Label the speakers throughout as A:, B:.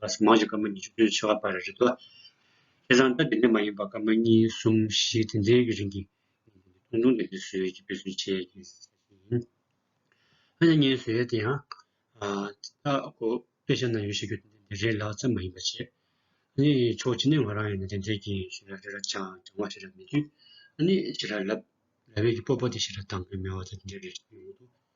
A: ལ་སོགས་མང་ཞིག་སྐར་མ་ཉི་ཤུ་བདུན་བྱེ་བ་པར་རེད་དོ། ཁྱེད་རང་ལྟ་དེ་འདྲ་མ་ཡིན་པ་སྐར་མ་གཉིས་གསུམ་བཞི་དེ་འདྲའི་རིང་གི་ཐུང་ཐུང་དེ་འདི་བཟོས་ཀྱི་དཔེ་ཟོས་བྱས་ཀྱི་ཟེར་བཞིན་ཡིན། ཧ་ཅང་སྙན་ཟོས་དེ་ཡང། དེ་དག་གོ་དཔེ་ཤ་ན་ཡོད་ཤེས་རྒྱུ་དེ་འདི་རེད་ལགས་ཙམ་མ་ཡིན་པ་བྱས། ནི་ཆོག་ཅི་ནས་ང་རང་ཡང་ནི་དེ་འདྲའི་གི་ཞེ་ར་རེ་ར་ཅང་ཅང་བ་ཞེ་ར་མེད་དུས། ནི་ཞེ་ར་ལབ། ལ་བས་ཀྱི་སྤོ་སྤོ་དེ་ཞེ་ར་དང་གི་མེ་བ་དེ་འདྲ་རེ་རེ་ཡོང་དུས།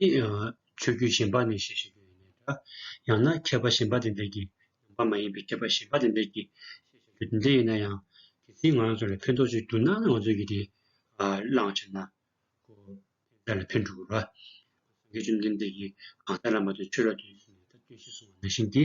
A: ནི། ཆོས་བརྒྱུད་གཞན་པ་ནས་ཤེས་བཞིན་དུ་ཡིན་ནའི་འདྲ། ཡང་ན་མཁས་པ་གཞན་པ་དེ་འདྲས་ཀྱིས་ནང་པ་མ་ཡིན་པའི་མཁས་པ་གཞན་པ་དེ་འདྲས་ཀྱིས་ཤེས་བཞིན་དུ་དེ་འདྲས་ཡིན་ན་ཡང། དེ་ཚིག་ང་རང་ཚོ་ལ་ཕན་ཐོགས་ཅིག་འདུག་ན་ང་ཚོས་ཀྱིས་དེ་བླངས་ཕྱིར་ན། ཁོ་ཕན་ལ་ཕན་འགྲོ་གི་རེད། སངས་རྒྱས་བཅོམ་ལྡན་འདས་ཀྱིས་གང་ཟག་ལ་མ་བརྟེན་ཆོས་ལ་བརྟེན་ཟེར་ནས་ད་བརྟེན་ཤེས་གསུངས་བ་ནང་བཞིན་གྱི།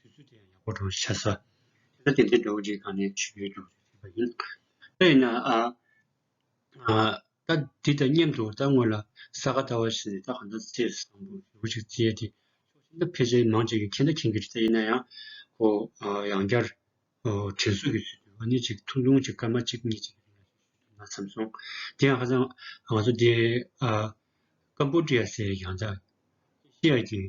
A: དུས་ཚོད་དེ་ཡང་ཡག་པོ་འགྲོ་བར་བྱ། ད་ལྟ་དེ་འདྲའི་འགྲོ་བ་འདྲེས་གང་ནས་ཆོད་ཡོད་ཀྱང་རེད་བྱས་པ་ཡིན། ད་ཡིན་ན། ད་འདི་དང་མཉམ་དུ་ད་སྔོན་ལ་ས་ག་ལྟ་བ་ཞིག་ནས་ད་ག་ཟླ་ཚེས་བཟང་པོ་ཞེ་པོ་ཞིག་བརྩི་ཡས་དེ། ཕྱོགས་ཆ་འདྲ་ཕལ་ཆེར་མང་བྱས་ཀྱི་ཁྱེད་ད་མཁྱེན་གྱི་རེད་ད་ཡིན་ན་ཡང། ཧོ། ཡང་བསྐྱར། དྲན་གསོས་ཀྱི་ཚུལ་དུ་ཨ་ནི་ཅིག་ཐུང་ཐུང་ཅིག་སྐར་མ་གཅིག་གཉིས་ཅིག་གི་རིང་ལ་ཞུས་ཐུབ་ན་བསམ་སོང། དེ་ཡང་ཧ་ཅང་ང་ཚོ་འདི། ཀམ་པོ་ཀྲི་ཡ་སའི་ཡང་ད། ཤི་ཡ་ཀྱི།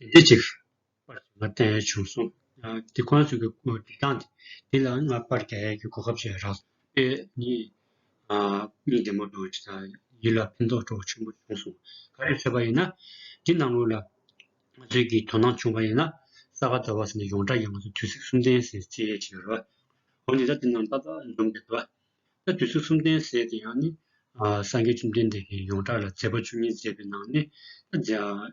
A: དེ་འདི་ཅིག། པར་ཞིག་ང་བསྟན་བྱུང་གསུངས། དེ་ཁོ་ན་ཚོས་ཀྱི་སྐུ་བསྒྲིགས་སྟངས་དེ་དེ་ལ་ང་པར་རྒྱ་ཡལ་གྱི་གོ་སྐབས་ཅིག་རག། པས་ནི། མིག་བདེ་མོ་འདུག་ཅེས་དང། ཡིད་ལ་ཕན་ཐོགས་སྤྲོ་བ་ཆེན་པོ་བྱུང་གསུངས། ག་རེ་ཐོས་པ་ཡིན་ན། འདི་ནང་ངོས་ལ། ང་ཚོས་ཀྱི་དོ་སྣང་བྱུང་བ་ཡིན་ན། ས་ག་ཟླ་བ་ཟེར་ནས་ཡོངས་གྲགས་ཀྱི་ང་ཚོ་དུས་ཚིགས་གསུམ་ལྡན་ཟེར་ཅེས་ཡས་བྱེད་རོ། འོ་ནི་ད་དེ་རྣམས་ཏག་ཏག་འཛོམས་དགོས་དོ། ད་དུས་ཚིགས་གསུམ་ལྡན་ཟེར་དེ་ཡང་ནི། སངས་རྒྱས་བཅོམ་ལྡན་འདས་ཀྱིས་ཡོངས་གྲགས་ལ་མཛད་པ་བཅུ་གཉིས་མཛད་པའི་ནང་ནས། ད།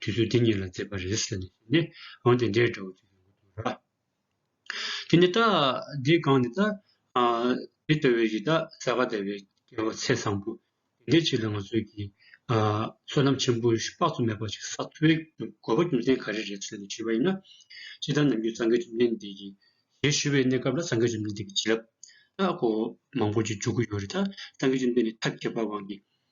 A: དུས་ཚོད་འདི་གཉིས་ལ་མཛེས་པ་རེད་ཟེར་ནས་འོང་དེ་འདྲའི་འདྲ་བོ་ཅིག་ཡོང་གི་འདུག་ར། དེ་ནས་ད་འདི་སྒང་ནས་ད་འདི་ལྟ་བུའི་ཡི་དྭགས་ས་ག་ཟླ་བའི་སྐྱེ་བོ་ཚེ་བཟང་པོ་དེ་འདྲའི་ཅིག་ལ་ང་ཚོས་ཀྱིས་བསོད་ནམས་ཆེན་པོ་ཞིག་དཔག་ཏུ་མེད་པ་ཞིག་བསགས་ཚུལ་གྱི་དགོས་པ་རྒྱུ་མཚན་ག་རེ་རེད་ཟེར་ནས་དྲིས་པ་ཡིན་ན། ཕྱི་ལྟར་ནམ་རྒྱུན་སངས་རྒྱས་བཅོམ་ལྡན་འདས་ཀྱི་ཞལ་ཞུ་བའི་གནས་སྐབས་ལ་སངས་རྒྱས་བཅོམ་ལྡན་འདས་ཀྱི་བྱིན་རླབས་ནག་པོ་མང་པོ་ཅིག་འཇུག་གི་ཡོད་རེད་ད། སངས་རྒྱས་བཅོམ་ལྡན་འདས་ཐབས་མཁས་པ་དབང་གིས་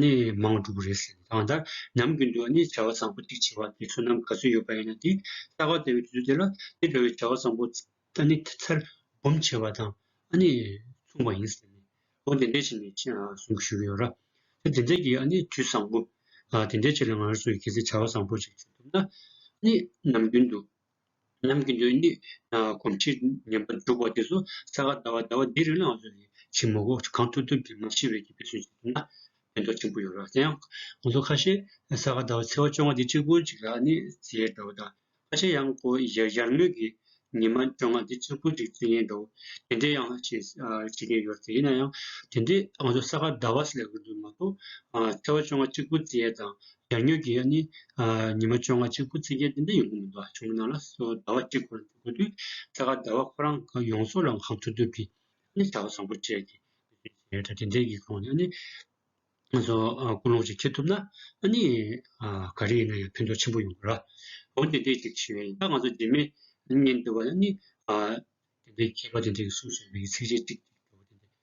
A: ནི་མང་དྲུག་རེད་ཟེར་གང་ལྟར་ནམ་རྒྱུན་དུ་ནི་བྱ་བ་བཟང་པོ་གཅིག་བྱེད་པ་དེ་བསོད་ནམས་ག་ཚོད་ཡོད་པ་ཡིན་ན་དེ་གསར་བ་དེ་བས་དུས་ཚོད་དེ་ལ་དེ་འདྲ་བའི་བྱ་བ་བཟང་པོ་ནི་ཚར་འབུམ་བྱེད་པ་དང་ནི་མཚུངས་པ་ཡིན་ཟེར་ནས་འོ་དེ་འདྲའི་ཆེད་ནས་གསུང་གི་ཞུ་གི་ཡོད་ར། དེ་དེ་འདྲའི་གི་ནི་དུས་བཟང་པོ་དེ་འདྲའི་ཆེད་ལ་ང་རང་ཚོས་གལ་སྲིད་བྱ་བ་བཟང་པོ་ཞིག་བྱེད་ཐུབ་ན་ནི་ནམ་རྒྱུན་དུ་ལམ་གྱི་མདོའི་གནད། གོམས་འཁྲིད་ཉམས་པ་འཇུག་པ་དེ་ཚོ་ས་ག་ཟླ་བ་ཟླ་བ་འདིའི་རིང་ལ་ང་ཚོ་ལས་བྱེད་མང་པོ་གང་ཐུབ་ཐུབ་ཀྱིས་མ་ཤི་བའི་གྱི་ཕན་སོན་བྱེད་ཐུབ་ན་ཕན་ཐོགས་ཆེན་པོ་ཡོང་ར་དེ་ཡང་ང་ཚོ་ཁ་ཤས་ས་ག་ཟླ་བ་ཚེ་བ་བཅོ་ལྔ་འདི་གཅིག་པུ་ཅིག་ལ་ནི་བརྩི་ཡས་འདྲ་བོ་དང་ཁ་ཤས་ཡང་སྒོ་ཡར་མོས་ཀྱི་ཉི་མ་བཅོ་ལྔ་འདི་གཅིག་པུ་ཅིག་བརྩི་ངེས་འདྲ་བོ་དེ་འདྲའི་ཡང་བྱེད་བྱེད་མཁན་ཡོད་ར་དེ་ཡིན་ན་ཡང་དེ་འདྲའི་ང་ཚོ་ས་ག་ཟླ་བ་ཞིག་ལས་འགུལ་འདུག་མ་གཏོགས་ཚེ་བ་བཅོ་ལྔ་གཅིག་པུ་བརྩི་ཡས་དང། ཡར་སྨྱོས་ཀྱི་ཡར་ནི། ཉི་མ་བཅོ་ལྔ་གཅིག་པུ་ཚེས་བརྒྱད་དེ་འདྲ་ཡོང་གི་མི་འདུག་ཨ་ཆུང་མི་ནག་ལ་སོ་ཟླ་བ་གཅིག་ཁོ་རང་འགྲོ་དགོས་དུས་ཚེ་དགའ་ཟླ་བ་ཁོ་རང་གི་ཡོང་སོ་རང་གང་འགྲོ་དུས་ཀྱི་ཨ་ནི་བྱ་བ་བཟང་པོ་སྤྲད་ཀྱི་ཡོད་ད་དེ་འདྲའི་ཡིག་ཐོག་ནས་ཨ་ནི་ང་ཚོ་ཀུན་སློང་ཞིག་འཁྱེར་ཐུབ་ན་ཨ་ནི་ག་རེ་ཡིན་ན་ཡང་ཕན་ཐོག་ཆེན་པོ་ཡོང་གི་ར་འོང་དེ་འདྲའི་ཞིག་ཞུས་ཡིན་ད་ང་ཚོ་རྗེས་མའི་ཉིན་དེ་བ་ཨ་ནི་དེ་འདྲའི་མཁས་པ་དེ་འདྲས་ཀྱི་གསུང་ཞིག་མི་གི་ཚིག་གཅིག་གཅིག་གཅིག་གི་འགྱུར་བ་དེ་འདྲས